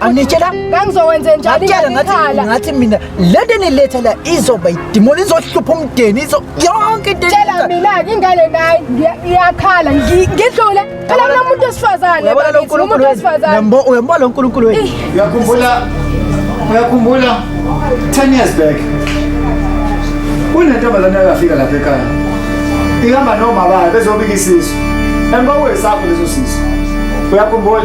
angitshela ngangizokwenze njani ngakhala ngathi mina lento eniletha la izoba idimoni izohlupha umdeni izo yonke into tshela mina ke ingane nayi ngiyakhala ngidlule phela mina umuntu osifazane uyabona lo nkulunkulu wesifazane yambo uyambo lo nkulunkulu wenu uyakhumbula uyakhumbula 10 years back kunentombazane yakafika lapha ekhaya ihamba nomama bayo bezobika isisu emba wesakho leso sisu uyakhumbula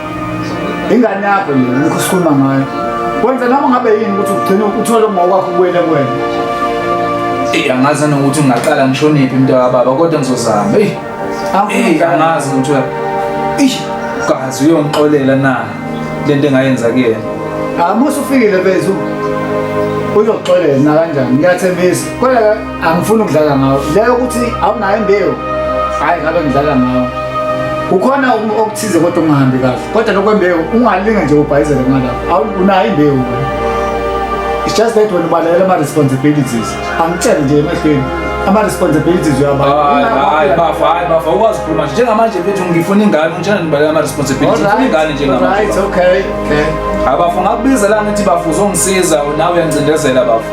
ingane yakho nje lokhu sikhuluma ngayo wenza noma ngabe yini ukuthi ugcine uthole ngokwakho kuwele kwena eyi angazi nokuthi ungaqala ngishoniphi mntu kababa kodwa ngizozama eyi eyi angazi ukuthi eyi kazi uyongixolela na le nto engayenza kuyena amusa ufikile bezu uzoxolela nakanjani ngiyathembisa kodwa angifuni ukudlala ngawo leyo ukuthi awunayo imbewu hhayi ngabe ngidlala ngawo kukhona okuthize kodwa ungahambi kahle kodwa lokwembewu ungalinga nje ubhayizele kungalapho unayo imbewu it's just that wena ubalalela ama-responsibilities angitshele nje emehlweni ama-responsibilities uyabahayi bafa hayi bafa ukwazi ukukhuluma nje njengamanje mfethu ngifuna ingane ngitshela nibalela ama-responsibilities ngifuna ingane njengamanje okay okay abafu ngakubiza la ngithi bafu uzongisiza nawe uyangicindezela bafu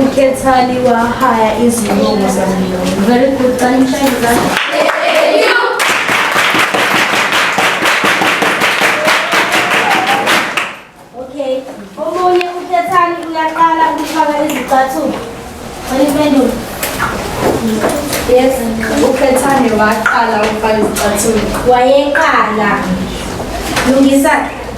ukhethani wahaya izinongo zamlungu very good kanishayeza okay omunye ukhethani uyaqala ukufaka izicathulo cela impendulo yes ukhethani waqala ukufaka izicathulo wayeqala lungisa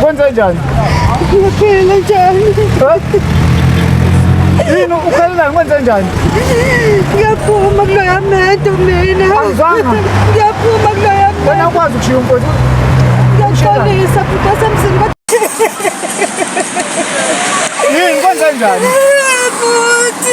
Kwenze njani? Ngiphile njani? Yini ukhalelani kwenze njani? Ngiyaphuma kuloya mento mina. Angizwanga. Ngiyaphuma kuloya mento. Wena ukwazi ukushiya umfowethu. Ngiyaxolisa futhi wasemzini kodwa. Yini kwenze njani? Futhi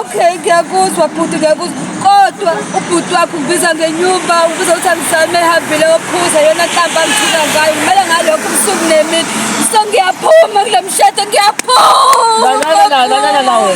Okay, ngiyakuzwa bhuti ngiyakuzwa kodwa ubhuti wakho ubiza ngenyumba ubiza ukuthi angisame ehambile ophuza yona nhlamba ngithula ngayo kumele ngalokho ubusuku nemini so ngiyaphuma kule mshado ngiyaphuma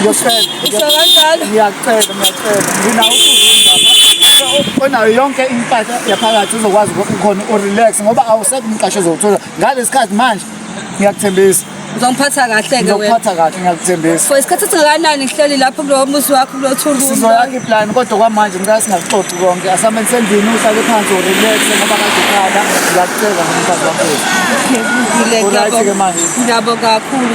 ngiyacela ngiyakucela ngiyacela nginawo onayo yonke impahla yaphakathi uzokwazi khona urelax ngoba awusekho umqasho ozowuthola ngalesi khathi manje ngiyakuthembisa uzongiphatha kahle-ke ngizokuphatha kahle ngiyakuthembisa for isikhathi esingakanani ngihleli lapho kulowo muzi wakho kulo thuluzi sizoyakha iplani kodwa kwamanje ngicela singakuxoxi konke asameni sendlini uhlale phansi urelaxe ngoba kazokhala ngiyakucela ngomfazi wakho ngiyabonga kakhulu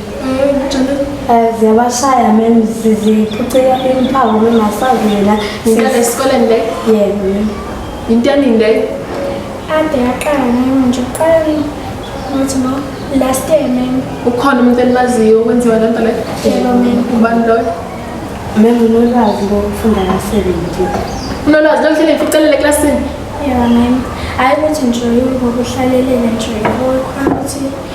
Eh, ziyabashaya mem ziziphucela imphawu bengasavela ngikale esikoleni le yebo yinto eningi leyo ade yaqala ngami nje uqala ngathi no last year mem ukhona umuntu enimaziyo okwenziwa le nto le yebo mem ubani loyo mem unolwazi lokufunda kasebenzi unolwazi lokuhlele ngificelele eklasini yebo mem hayi ukuthi nje ngokuhlalelela nje ngokukhona ukuthi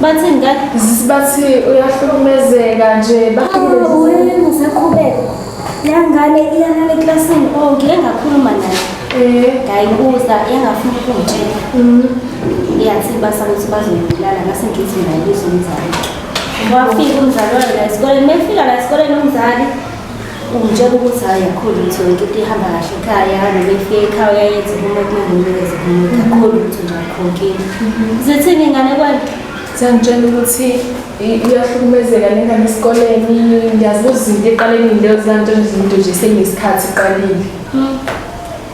Bathini ka? Bathi uyahlukumezeka nje. Wena usakhubeka. Yangane iyalala eklasini onke engakhuluma naye. Eh, ngayibuza engafuna ukungitshela. Mhm. Iyathi basa ukuthi bazoyibulala ngase ngithi naye izomzala. Wafika umzali wena esikoleni, mefika la esikoleni umzali Ungitshela ukuthi hhayi kakhulu ukuthi yonke into ihamba kahle ekhaya noma ifike ekhaya uyayenza uma kunanginikeza kumuntu kakhulu ukuthi nje akhonkile zithini ingane kwani ziyangitshela ukuthi iyahlukumezeka le ngane esikoleni ngiyazibuza izinto eqaleni leyo ziyangitshela izinto nje senginesikhathi iqalile hmm.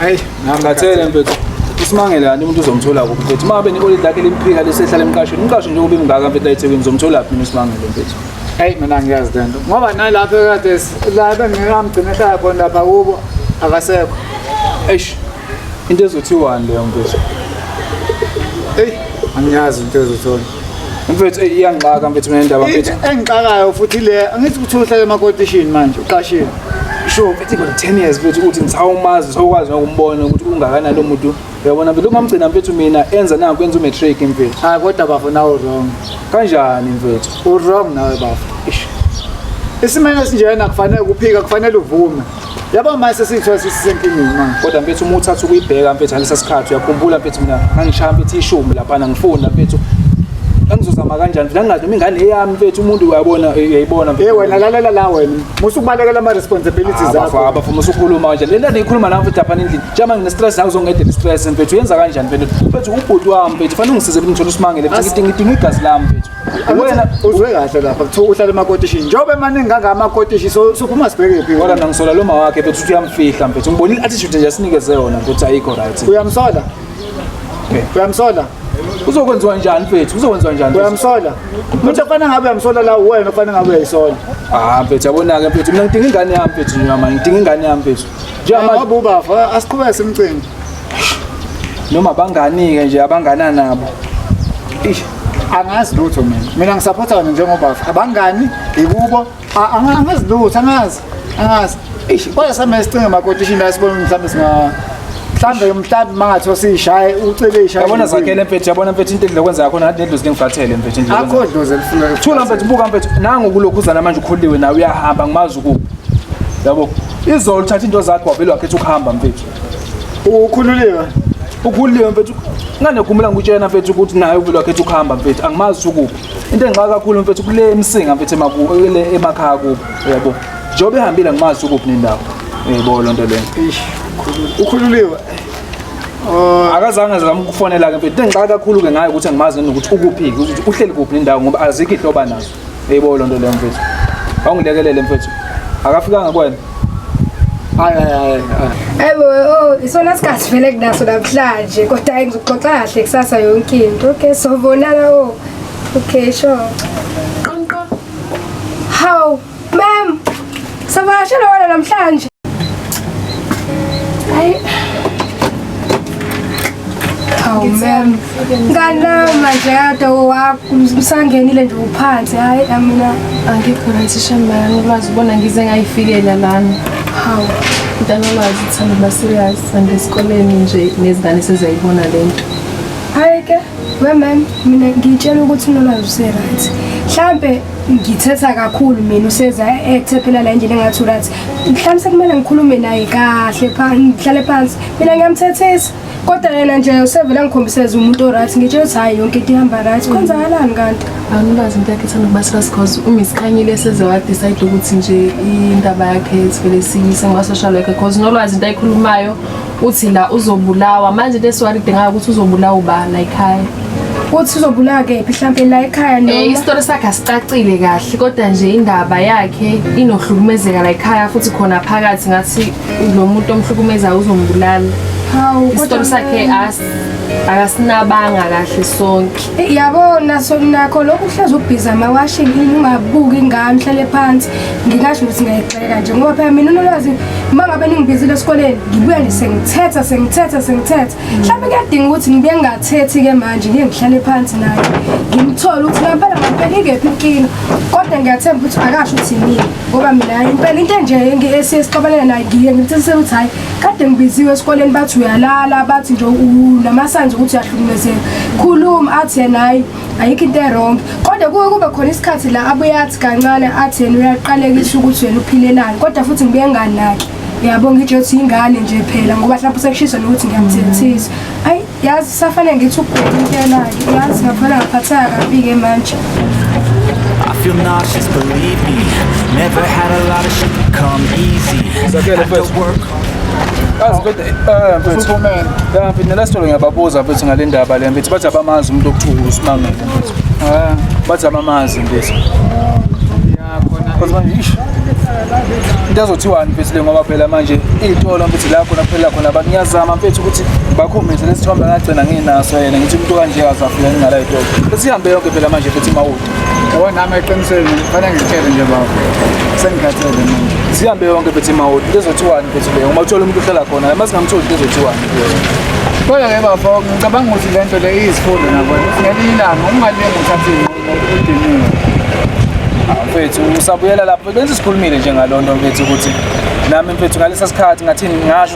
Hayi, ngakhathele mfethu. Usimangele kanti umuntu uzomthola kuphi mfethu. Uma ngabe nekolidi lakhe limphika lesehlala emqashweni. Umqasho nje ube mngaka mfethu ayithekwini uzomthola kuphi usimangele mfethu. Hayi mina ngiyazi lento. Ngoba nalapha kade la bengikamgcina ehlala khona lapha kubo akasekho. Eish. Into ezothiwani leyo mfethu? Hey, angiyazi into ezothola. mfethu eyi iyangixaka mfethu mina indaba mfethu engixakayo futhi le angithi ukuthi uhlale emakotishini manje uqashile sure mfethu iba 10 years mfethu ukuthi ngisawumazi sawukwazi nokumbona ukuthi ungakanani lo muntu uyabona mfethu ukumgcina mfethu mina enza nangu kwenza umatric mfethu hayi kodwa bafo nawe wrong kanjani mfethu u-wrong nawe bafo isimene esinjena kufanele kuphika kufanele uvume yabo manje sesithiwa sisisenkingeni manje kodwa mfethu uma uthatha ukuyibheka mfethu ngalesa sikhathi uyakhumbula mfethu mina ngangishaya mfethu ishumi laphana ngifunda mfethu angizozama kanjani mfethu angingathi imingane eyami mfethu umuntu uyabona uyayibona mfethu hey wena lalela la wena musa ukubalekela ama responsibilities zakho baba bafuna usukhuluma kanjani lento engikhuluma nawe mfethu laphana endlini njengoba ngine stress nawe uzongedela stress mfethu uyenza kanjani mfethu mfethu ubhuti wami mfethu fanele ungisize ukuthi ngithole usimangele mfethu ngidinga igazi lami mfethu wena uzwe kahle lapha kuthiwa uhlala emakotishini njengoba emaningi kangaka amakotishi so sophuma sibheke phi kodwa mina ngisola lo mawakhe mfethu ukuthi uyamfihla mfethu ngibonile attitude nje asinikeze yona mfethu ayikho right uyamsola uyamsola uzokwenziwa njani mfethu uzokwenziwa njani mfethu? uyamsola umuntu ofana ngabe uyamsola la uwena ofana ngabe uyayisola ah mfethu yabona-ke mfethu mina ngidinga ingane yami mfethu nje mama ngidinga ingane yami mfethu njengamanje ngoba ubafa asiqhubeke simcimbi noma banganike nje abangana nabo ish angazi lutho mina mina ngisapotha wena njengoba abangani ikubo angazi lutho angazi angazi ish kodwa same sicinge makotishi la sibona mhlawumbe singa mhlambe mhlambe mangathiwa siyishaye ucele ishaye yabona zakhele mfethu yabona mfethu into edle kwenza yakho nathi nedlozi lingifathele mfethu indlela akho dlozi elifuna thula mfethu buka mfethu nangu kulokhuzana manje ukholiwe nawe uyahamba ngimazi ukuphi yabo izolo uthatha into zakho wavele wakhetha ukuhamba mfethu ukhululeka ukhululeka mfethu nganegumela ngikutshena mfethu ukuthi naye uvelo wakhe ethi ukuhamba mfethu angimazi ukuphi into engixaka kakhulu mfethu kule emsinga mfethu emakuwe emakhaya kubo yabo njengoba ehambile angimazi ukuphi nendawo yebo loo nto leyo ukhululiwe oh. akazange zama ukufonela-ke mfethu into engixaka kakhulu-ke ngayo ukuthi angimazi nokuthi ukuphi-ke ukuthi uhleli kuphi nendawo ngoba azikho ihloba nazo Eyibo lo nto leyo mfethu. Awungilekelele mfethu. Akafikanga kwena. Hayi hayi hayi. Ebo oh isona sikhathi vele kunaso namhlanje kodwa hayi ngizoxoxa kahle kusasa yonke into. Okay so bonana oh. Okay sure. Qonqo. How? Ma'am. Savakashela wena namhlanje. Hayi. Awu mem. Ngana manje kade wakho msangenile nje uphansi. Hayi amina angikho right shamba yami ulwazi ubona ngize ngayifikela lana. Hawu. Mntana ulwazi uthanda ba serious angesikoleni nje nezingane seziyayibona lento. Hayi ke, we mem mina ngitshela ukuthi unolwazi useright. Mhlambe ngithetha kakhulu mina useza ethephela la endlini engathi urathi mhlawumbe sekumele ngikhulume naye kahle ngihlale phansi mina ngiyamthethisa kodwa yena nje usevele ngikhombiseza umuntu orathi ngitshe ukuthi hhayi yonke into ihamba right kwenzakalani kanti angikazi into yakhe ithanda ukuba serious cause umisikhanyile eseze wadecide ukuthi nje indaba yakhe sivele siyise nguma-social worker cause nolwazi into ayikhulumayo uthi la uzobulawa manje lesi wari dingayo ukuthi uzobulawa ubani la ekhaya uthi uzobulawa kephi mhlawumbe la ekhaya noma eh isitori sakhe asicacile kahle kodwa nje indaba yakhe inohlukumezeka la ekhaya futhi khona phakathi ngathi lo muntu omhlukumezayo uzombulala hawu isitori sakhe as akasinabanga kahle sonke eh, yabo naso nakho lokhu uhlezi ubhiza amawashini ungabuki ingane uhlale phansi ngingasho ukuthi kanje ngoba phela mina unolwazi uma ngabe ningibizile esikoleni ngibuya nje sengithetha sengithetha sengithetha mhlawumbe kuyadinga ukuthi ngibuye ngingathethi-ke manje ngiye ngihlale phansi naye ngimthole ukuthi ngampela ngampela ingephi inkinga kodwa ngiyathemba ukuthi akasho ukuthi yini ngoba mina impela into enje esixabanele naye ngiye ngimthisisele ukuthi hhayi kade ngibiziwe esikoleni bathi uyalala bathi nje unamasanzi ukuthi uyahlumezeka khuluma athi yena hhayi ayikho into erong kodwa kuke kube khona isikhathi la abuye athi kancane athi yena uyaqalekisa ukuthi wena uphilelani kodwa futhi ngibuye nganaki yabo ngitsho ukuthi yingane nje phela ngoba mhlawumbe sekushiswa nokuthi ngiyamthethisa ayi yazi safanele ngithi ukubheka into yelake yazi ngakhona ngaphatheka kabi-ke manje I feel nauseous, believe me. Never had a lot of shit come easy. It's okay, the first. Kazi kodwa eh mfethu. Futhi kumele. Ya mfethu nelastolo ngiyababuza mfethu ngale ndaba le mfethu bathi abamazi umuntu okuthiwa uSimangele mfethu. Eh bathi abamazi mfethu. Ya khona. Kodwa manje ish. Into azothiwani mfethu le ngoba phela manje iy'tolo mfethu la khona kuphela khona abantu ngiyazama mfethu ukuthi bakhombise lesithombe ngagcina nginaso yena ngithi umuntu kanje akazafika ngingala y'tolo. Besihambe yonke phela manje mfethu imawulo. yabo nami eqinisweni fanele ngitshele nje baba sengikhathele manje sihambe yonke bethi mawoti lezothiwani bethi leyo uma uthola umuntu uhlala khona uma singamtholi lezothiwani kodwa ke bafo ngicabanga ukuthi le nto le iyizifundo nabona ukuthi ngelinye ilanga ungalingi uthathe inqumo udiniwe ah, mfethu usabuyela lapho benze sikhulumile nje ngaloo nto mfethu ukuthi nami mfethu ngalesa sikhathi ngathini ngasho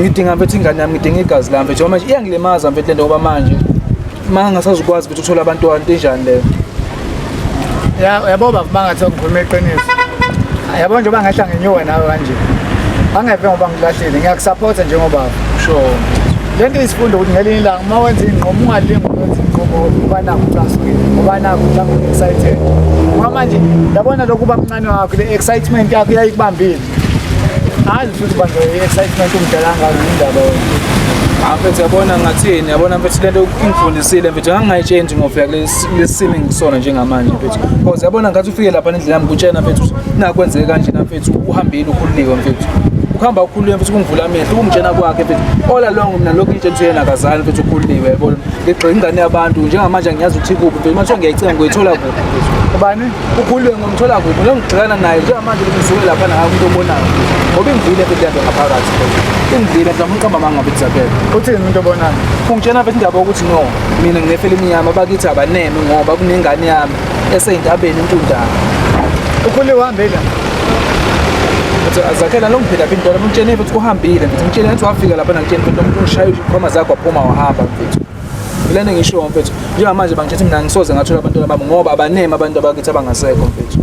ngidinga mfethu ingane yami ngidinga igazi lami mfethu manje iyangilimaza mfethu lento ngoba manje uma ngasazukwazi mfethu ukuthola abantwana into enjani leyo yabo baba bangathi ngikhuluma iqiniso yabo njengoba ngehla ngenyuwe nawe kanje angeve ngoba ngilahlile ngiyakusaphotha njengobaba sure le nto isifundo ukuthi ngelinye ilanga uma wenza iy'nqumo ungalingi ukwenza iy'nqumo uba nakho ucasukile uba nakho mhlawumbe u-excited ngoba manje yabona lokhu uba mncane wakho le-excitement yakho iyayikubambile Hayi futhi bandla i-excitement umdala ngalo indaba mfethu yabona ngathini yabona mfethu lento ingifundisile mfethu ngangingayitshenji ngofika kulesi simo engisona njengamanje mfethu because yabona ngathi ufike lapha nendlela yami kutshena mfethu nakwenzeke kanjena mfethu uhambile ukhululiwe mfethu ukuhamba ukhululiwe mfethu kungivula amehlo ukungitshena kwakhe mfethu all along mina lokhu ngitshena ukuthi yena akazali mfethu ukhululiwe yabona ngigxile ingane yabantu njengamanje angiyazi ukuthi kuphi mfethu manje ngiyayicinga ngoyithola kuphi ubani ukhululwe ngomthola kuphi ngiyongigxilana naye njengamanje ngisuke lapha naye umuntu obonayo ngoba ingivile into yakhe ngaphakathi ingivile ngizama umqamba amanga ngabe kuzakele uthini umuntu obonayo ungitshena vele indaba yokuthi no mina nginefela imnyama bakithi abaneme ngoba kunengane yami eseyintabeni intundana ukhululwe uhambe la zakhela lo ngiphila phi intwana umtshene futhi kuhambile ngithi umtshene ngathi wafika lapha nangitshene futhi umuntu ungishayile ukhoma zakho waphuma wahamba mfethu Lena ngisho mfethu. Njengamanje bangithethe mina ngisoze ngathola abantwana bami ngoba abaneme abantu abakithi abangasekho mfethu.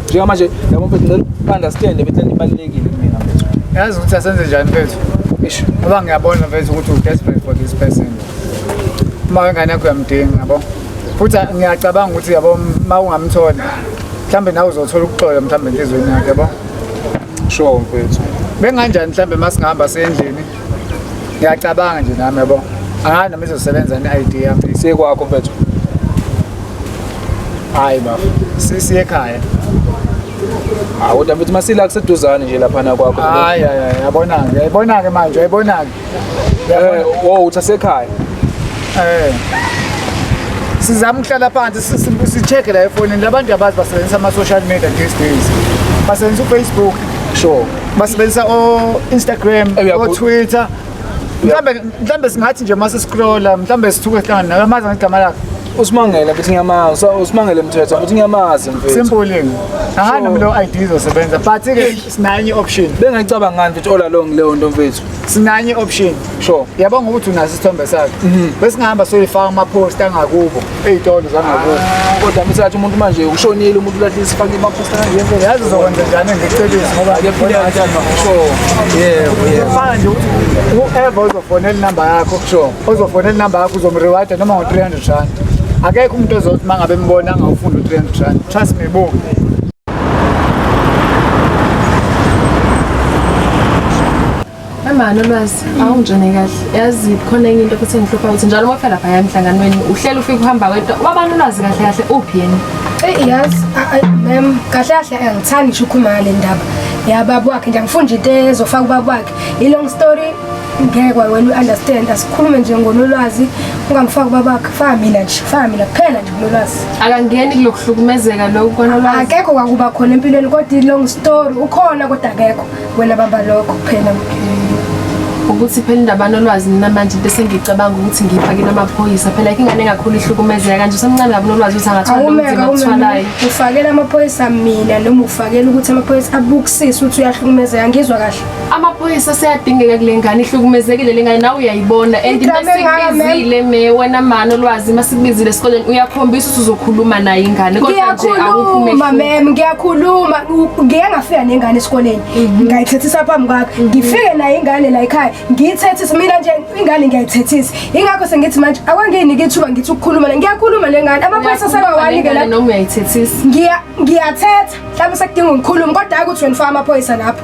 Njengamanje yabo mfethu ngicela ukunderstand ukuthi lento ibalulekile kumina mfethu. Yazi ukuthi asenze njani mfethu? Ish, ngoba ngiyabona mfethu ukuthi u desperate for this person. Uma wengane yakho uyamdinga yabo. Futhi ngiyacabanga ukuthi yabo uma ungamtholi mhlambe nawe uzothola ukuxola mhlambe enhlizweni yakhe yabo. Sure mfethu. Benganjani mhlambe masingahamba sendlini? ngiyacabanga nje nami yabo angazi noma izosebenza ne-id yami siye kwakho mfethu hayi baba sisiye ekhaya hawu kodwa mfethu masila kuseduzane nje laphana kwakho hayi hayi hayi, yabona-ke yayibona-ke manje yayibona-ke Eh, wo uthi asekhaya Eh. Sizama ukuhlala phansi si- si- si-check la efonini labantu abazi basebenzisa ama-social media these days. Basebenzisa uFacebook. sure basebenzisa o-instagram Eh, uyagu- o-twitter mhlawumbe mhlawumbe singathi nje uma siscrolla mhlawumbe sithuke sihlangane naye amazi ngegama lakhe usimangele ukuthi ngiyamazi so- usimangele mthetho ukuthi ngiyamazi mfethu simpuling angani noma leyo id izosebenza but-ke sinayo enye i-option bengayicabangani mfethu all along leyo nto mfethu sinanye option sure yabo ngokuthi unaso isithombe sakhe mhm. bese ngihamba soyifaka ama post angakubo ezitolo zangakubo ah, kodwa mthatha umuntu manje ushonile umuntu lathi isifake ama post angakubo yazi uzokwenza njani ngicebisi ngoba ake phile kanjani sure yebo yebo fana nje ukuthi uever uzofonela inamba yakho sure uzofonela inamba yakho uzomreward noma ngo 300 rand akekho umuntu ozothi mangabe mbona angawufunda u 300 rand trust me bo Mama Lwazi awungijone kahle yazi khona enye into futhi engihlupha ukuthi njalo uma ufela lapha yamhlanganweni uhlela ufike uhamba wedwa ubabani ulwazi kahle kahle uphi yena eyi yazi mem kahle kahle angithandi ngisho ukhuluma ngale ndaba yababa wakhe nje angifuni nje into ezofaka ubaba wakhe i-long story ngeke wena u-understand asikhulume nje ngonolwazi ungangifaki ubabakhe faka mina nje faka mina kuphela nje kunolwazi akangeni kulokuhlukumezeka lokhu konolwazi akekho kwakuba khona empilweni kodwa i-long story ukhona kodwa akekho wena bamba lokho kuphela ukuthi phela indaba nolwazi nina manje into esengicabanga ukuthi ngiyifakile amaphoyisa phela yike ingane engakhulu ihlukumezeka kanje usemncane kabi nolwazi ukuthi angathola ubunzima akuthwalayo ufakela amaphoyisa mina noma ufakela ukuthi amaphoyisa abukusise ukuthi uyahlukumezeka ngizwa kahle amaphoyisa seyadingeka kule ngane ihlukumezekile le ngane nawe uyayibona and masikubizile me wena mani olwazi masikubizile esikoleni uyakhombisa ukuthi uzokhuluma naye ingane kodwa nje awukhuluma mem ngiyakhuluma ngike ngafika nengane esikoleni mhm. ngayithethisa phambi kwakho mhm. ngifike naye ingane la ekhaya ngiyithethisa mina nje ingane ngiyayithethisa ingakho sengithi manje akwanginike ithuba ngithi ukukhuluma le ngiyakhuluma le ngane amaphoyisa sebawanike la noma uyayithethisa ngiyathetha mhlawumbe sekudinga ngikhulume kodwa hayi ukuthi wena ufaka amaphoyisa lapho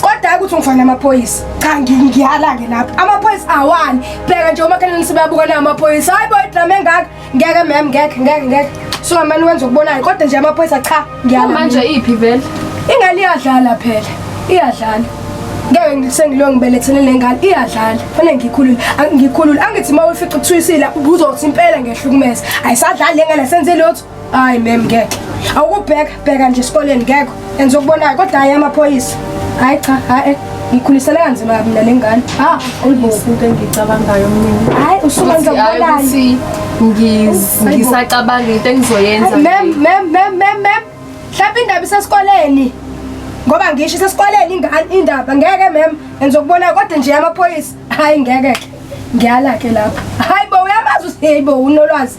kodwa hayi ukuthi ngifana amaphoyisa cha ngiyala-ke lapho amaphoyisa awani bheka nje umakheleni sibabuka nawo amaphoyisa hayi bo idrama engaka ngeke mem ngeke ngeke ngeke sungamane wenza okubonayo kodwa nje amaphoyisa cha ngiyala manje iphi vele ingane iyadlala phela iyadlala ngeke sengilo ngibelethele lengane iyadlala fanele ngikhulule ngikhulule angithi uma ufica ukuthulisile ubuzothi impela ngehlukumeza ayisadlali lengane senze lotho hayi mem ngeke awukubheka bheka nje esikoleni ngekho enza okubonayo kodwa hayi amaphoyisa hayi cha hayi ngikhulisele kanzima kabi mina nengane ha ulibokuke engicabangayo mnini hayi usuka nje ukubonani ngisacabanga into engizoyenza mem mem mem mem mem hlapha indaba isesikoleni ngoba ngisho isesikoleni ingane indaba ngeke mem enza okubonayo kodwa nje amaphoyisa hayi ngeke ngiyala ke lapha hayi bo uyamazi usiheyi bo unolwazi